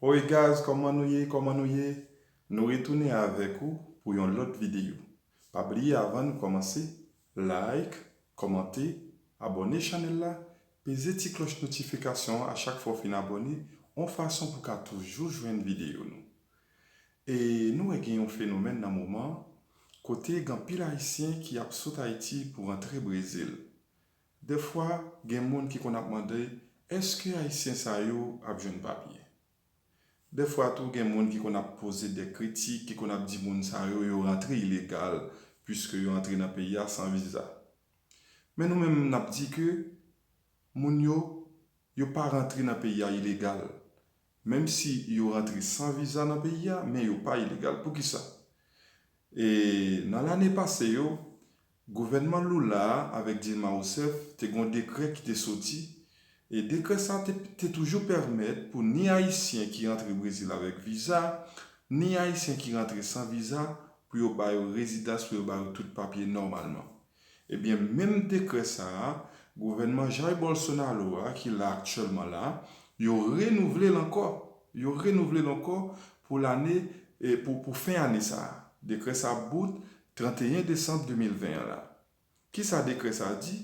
Hoi gaz kòman nou ye kòman nou ye nou retounen avèk ou pou yon lòt videyo pa bliye avan nou kòmanse like kòmante abòne chanèl la peze ti klòch notifikasyon an a chak fwa w fin abòne on fason pou ka toujou jwenn videyo nou e nou wè gen yon fenomèn nan moman kote gen anpil ayisyen ki ap sot ayiti pou rantre brezil Dèfwa gen moun ki konn ap mande èske ayisyen sa yo ap jwenn papye. Dèfwa tou gen moun ki konn ap poze dè kritik ki konn ap di moun sa yo yo rantre ilegal puiske yo antre nan peyi a san viza. Men nou menm nap di ke moun yo yo pa rantre nan peyi a ilegal. Menm si yo rantre san viza nan peyi a men yo pa ilegal. Poukisa? E nan lane pase yo Gouvènman Lula a avèk Dilma Rousseff te gen yon dekrè ki te soti, e dekrè sa te te toujou pèmèt pou ni Ayisyen ki rantre Brezil avèk viza, ni Ayisyen ki rantre san viza pou yo ba yo rezidans pou yo ba yo tout papye nòmalman. Ebyen menm dekrè sa a, gouvènman Jair Bolsonaro a ki la aktyèlman la, yo renouvle l ankò, yo renouvle l ankò pou lane pou pou fen ane sa a. Dekrè sa bout 31 desanm 2020 an la. Kisa dekrè sa a di?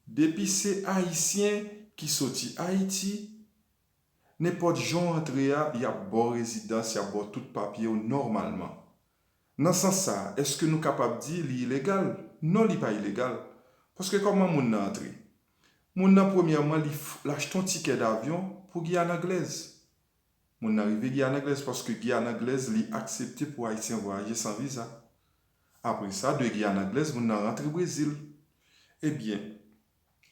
Depi se Ayisyen ki soti Ayiti, nenpòt jan w antre a, y ap ba w rezidans, y ap ba w tout papye w nòmalman. Nan sans sa a, èske nou kapab di li ilegal? Non li pa ilegal. Paske kòman moun nan antre? Moun nan premyèman li l achte yon tikè davyon pou Giyàn Anglèz. Moun nan rive Giyàn Anglèz paske Giyàn Anglèz li aksepte pou Ayisyen vwayaje san viza. Apre sa, de Giyàn Anglèz, moun nan rantre Brezil. Ebyen,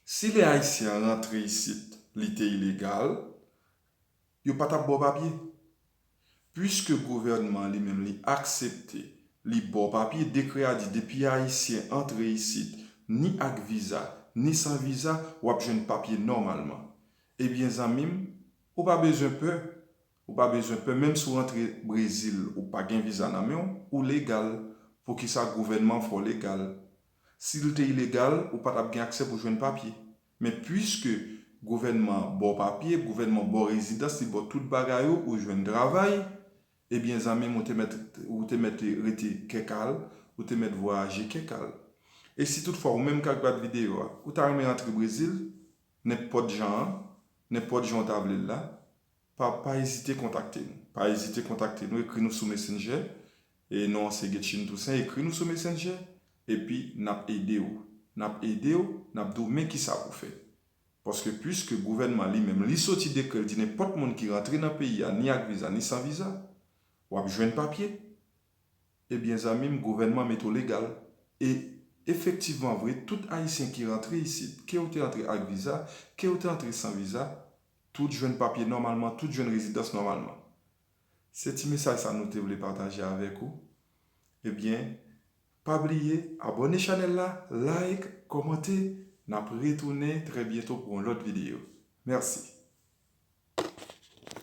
si lè Ayisyen an rantre isit li te ilegal, yo pa t ap ba w papye. Puiske gouvènman an li menm li aksepte, li ba w papye, dekrè a di depi Ayisyen antre isit ni ak viza, ni san viza, w ap jwenn papye nòmalman. Ebyen zanmi m, Ou pa bezwen pè, ou pa bezwen pè menm si w rantre Brezil ou pa gen viza nan men w, ou legal, poukisa gouvènman fè w legal? Si l te ilegal ou pa t ap gen aksè pou jwenn papye. Men puiske gouvènman an ba w papye, gouvènman an ba w rezidans, li ba w tout bagay ou, ou jwenn travay, ebyen zanmi m ou te mèt ou te mèt rete kè kal, ou te mèt vwayaje kè kal. E si tout fwa ou menm k ap gad videyo a, ou ta renmen antre Brezil nenpòt jan an, Nenpòt jan ou ta vle l la, pa pa ezite kontakte nou. Pa ezite kontakte nou, ekri nou sou Messenger, e non an se Guetchine Toussaint, ekri nou sou Messenger, epi n ap ede ou. N ap ede ou, n ap di ou men kisa pou fè. Paske puiske gouvènman li menm li soti dekrè l di nenpòt moun ki rantre nan peyi a ni ak viza ni san viza, w ap jwenn papye, Ebyen zanmim gouvènman met ou legal e efektivman vre tout ayisyen ki rantre isit ke ou te antre ak viza ke ou te antre san viza tout jwenn papye nòmalman tout jwenn rezidans nòmalman se ti mesaj sa nou te vle pataje avèk ou ebyen pa bliye abòne chanèl la like kòmante nap retounen trè byento pou yon lòt videyo mèsi.